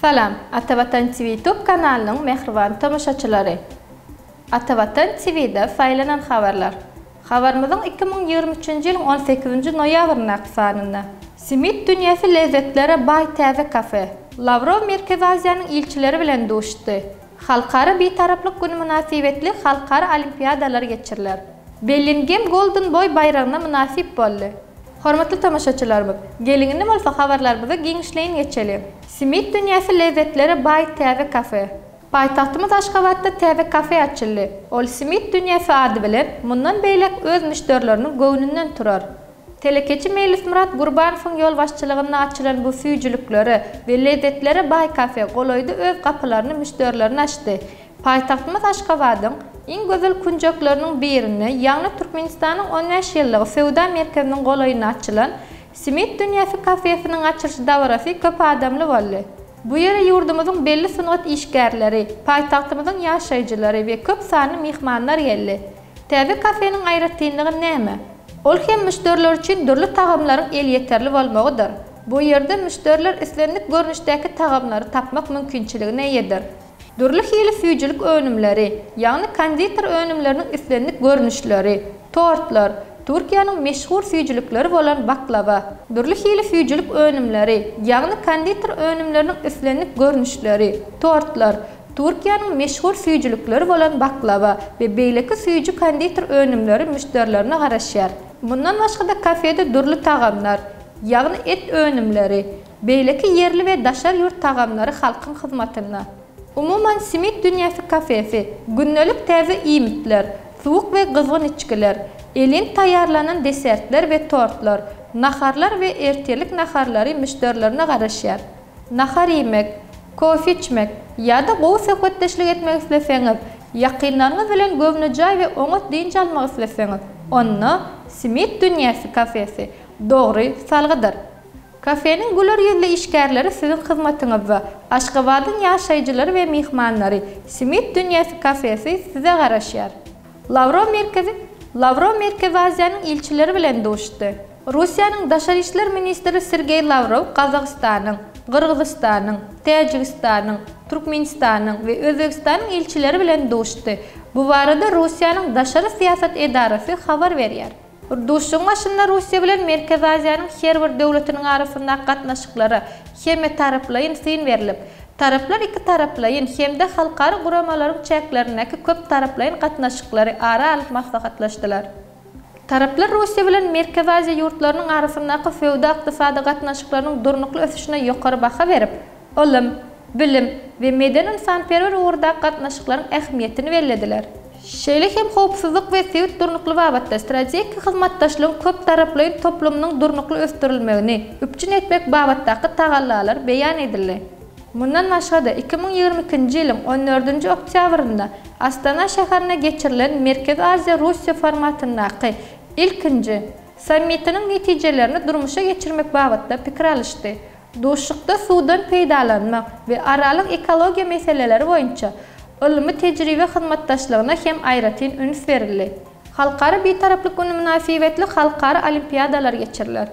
Salam, Ata Watan TV YouTube kanalynyň mähriban tomaşaçylary! Ata Watan TV-de saýlanan habarlar. Habarymyzyň iki müň ýigrimi üçünji ýylyň on sekizinji noýabryndaky sanynda. Simit dünýäsi lezzetlere baý täze kafe. Lawrow Merkezi Aziýanyň ilçileri bilen duşdy. Halkara Bitaraplyk güni mynasybetli halkara olimpiadalar geçiriler. Bellingem Golden Boý baýragyna mynasyp boldy. Hormatly tomaşaçylarymyz, geliň indi bolsa habarlarymyzy giňişleýin geçeliň. Simit dünýäsi lezzetlere baý täze kafe. Paýtagtymyz Aşgabatda täze kafe açyldy. Ol Simit dünýäsi ady bilen mundan beýläk öz müşderileriniň göwnünden turar. Telekeçi Meýlismyrat Gurbanowyň ýolbaşçylygynda açylan bu süýjüliklere we lezzetlere baý kafe golaýda öz gapylaryny müşderilerine açdy. Paýtagtymyz Aşgabadyň iň gözel künjekleriniň birinde, ýagny Türkmenistanyň on bäş ýyllygy söwda merkeziniň golaýynda açylan Simit dünýäsi kafesiniň açylyş dabarasy köp adamly boldy. Bu ýere ýurdumyzyň belli sungat işgärleri, paýtagtymyzyň ýaşaýjylary we köp sanly myhmanlar geldi. Täze kafeniň aýratynlygy näme? Ol hem müşderiler üçin dürli tagamlaryň elýeterli bolmagydyr. Bu ýerde müşderiler islendik görnüşdäki tagamlary tapmak mümkinçiligine eýedir. Dürli hili süýjülik önümleri, ýagny konditer önümleriniň islendik görnüşleri, tortlar, Türkiýäniň meşhur süýjülikleri bolan baklawa, dürli hili süýjülik önümleri, ýagny konditer önümleriniň islendik görnüşleri, tortlar, Türkiýäniň meşhur süýjülikleri bolan baklawa we beýleki süýji-konditer önümleri müşderilerine garaşýar. Mundan başga-da kafede dürli tagamlar, ýagny et önümleri, beýleki ýerli we daşary ýurt tagamlary halkyň hyzmatynda. Umuman, Simit dünýäsi kafesi gündelik täze iýmitler, suwuk we gyzgyn içgiler, elin taýýarlanan desertler we tortlar, naharlar we ertirlik naharlary müşderilerine garaşýar. Nahar iýmek, kofe içmek ýa-da gowy söhbetdeşlik etmek isleseňiz, ýakynlaryňyz bilen göwnejaý we oňat dynç almak isleseňiz, onda Smit dünýäsi kafesi dogry salgydyr. Kafeniň güler ýüzli işgärleri siziň hyzmatyňyzda. Aşgabadyň ýaşaýjylary we myhmanlary Smit dünýäsi kafesi size garaşýar. Lawrow merkezi Lawrow Merkezi Aziýanyň ilçileri bilen duşdy. Russiýanyň Daşary işler ministri Sergeý Lawrow Gazagystanyň, Gyrgyzystanyň, Täjigistanyň, Türkmenistanyň we Özbegistanyň ilçileri bilen duşdy. Bu barada Russiýanyň daşary syýasat edarasy habar berýär. Duşuşygyň başynda Russiýa bilen Merkezi Aziýanyň her bir döwletiniň arasyndaky gatnaşyklara hemmetaraplaýyn syn berlip, taraplar ikitaraplaýyn hem-de halkara guramalaryň çäklerindäki köptaraplaýyn gatnaşyklary ara alyp maslahatlaşdylar. Taraplar Russiýa bilen Merkezi Aziýa ýurtlarynyň arasyndaky söwda-ykdysady gatnaşyklarynyň durnukly ösüşine ýokary baha berip, ylym, bilim we medeni-ynsanperwer ugurdaky gatnaşyklaryň ähmiýetini bellediler. Şeýle hem howpsuzlyk we sebit durnuklygy babatda strategik hyzmatdaşlygyň köptaraplaýyn toplumynyň durnukly ösdürilmegini üpjün etmek babatdaky tagallalar beýan edildi. Mundan başga-da, iki müň ýigrimi ikinji ýylyň on dördünji oktýabrynda Astana şäherinde geçirilen Merkezi Aziýa-Russiýa formatyndaky ilkinji Sammitiniň netijelerini durmuşa geçirmek babatda pikir alyşdy. Duşuşykda suwdan peýdalanmak we aralyk ekologiýa meseleleri boýunça ylmy-tejribe hyzmatdaşlygyna hem aýratyn üns berildi. Halkara Bitaraplyk güni mynasybetli halkara olimpiadalar geçiriler.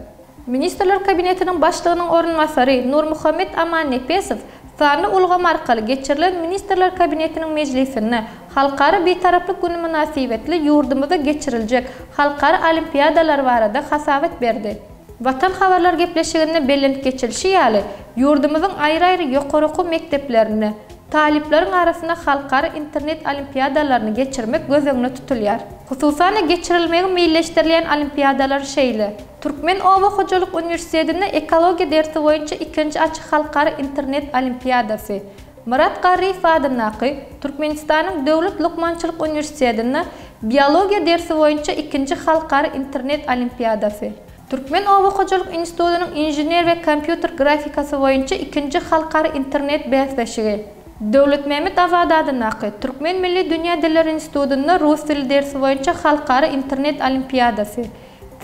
Ministrler Kabinetiniň Başlygynyň orunbasary Nurmuhammet Amannepesow sanly ulgam arkaly geçirilen Ministrler Kabinetiniň mejlisinde Halkara Bitaraplyk güni mynasybetli ýurdumyzda geçiriljek halkara olimpiadalar barada hasabat berdi. Watan habarlar gepleşiginde belent geçilişi ýaly, ýurdumyzyň aýry-aýry ýokary okuw mekdeplerinde talyplaryň arasynda halkara internet olimpiadalaryny geçirmek göz öňünde tutulýar. Hususan-da, geçirilmegi meýilleşdirilýän olimpiadalar şeýle. Türkmen oba hojalyk uniwersitetinde ekologiýa dersi boýunça ikinji açyk halkara internet olimpiadasy, Myrat Garryýew adyndaky Türkmenistanyň döwlet lukmançylyk uniwersitetinde biologiýa dersi boýunça ikinji halkara internet olimpiadasy, Türkmen oba hojalyk institutynyň inžener we kompýuter grafikasy boýunça ikinji halkara internet bäsleşigi, Döwletmämmet Azady adyndaky Türkmen milli dünýä dilleri institutynda rus dili dersi boýunça halkara internet olimpiadasy,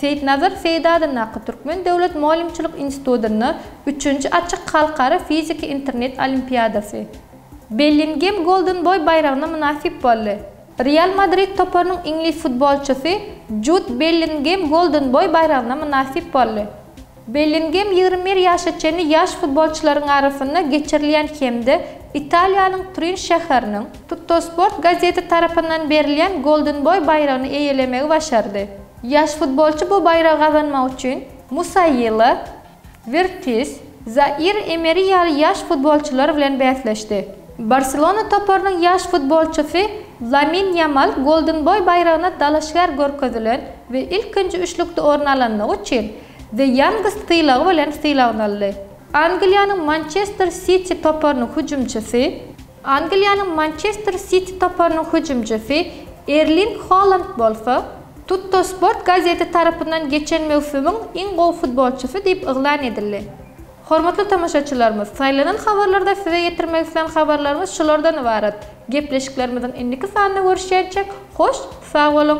Seýitnazar Seýdi adyndaky Türkmen döwlet mugallymçylyk institutynda üçünji açyk halkara fiziki internet olimpiadasy Bellingem Golden Boy baýragyna mynasyp boldy. Real Madrid toparynyň iňlis futbolçysy Jud Bellingem Golden Boy baýragyna mynasyp boldy. Bellingem ýigrimi bir ýaşa çenli ýaş futbolçylaryň arasynda geçirilýän hem-de Italiýanyň Turin şäheriniň Tuttosport gazeti tarapyndan berilýän Golden Boy baýragyny eýelemegi başardy. Ýaş futbolçy bu baýragy gazanmak üçin Musaýýla, Wirtis, Zair Emeri ýaly ýaş futbolçylar bilen bäsleşdi. Barselona toparynyň ýaş futbolçysy Lamin Ýamal Golden Boý baýragyna dalaşgär görkezilen we ilkinji üçlükde orun alanlygy üçin The Youngest sylagy bilen sylaglandy. Angliýanyň Mançester Siti toparynyň hüjümçisi. Angliýanyň Mançester Siti toparynyň hüjümçisi Erling Holand bolsa, Tuttosport gazeti tarapyndan geçen möwsümiň iň gowy futbolçysy diýip yglan edildi. Hormatly tomaşaçylarymyz, saýlanan habarlarda size ýetirmek islän habarlarymyz şulardan ybarat. Gepleşiklerimiziň indiki sanynda görüşýänçäk, hoş, sag boluň!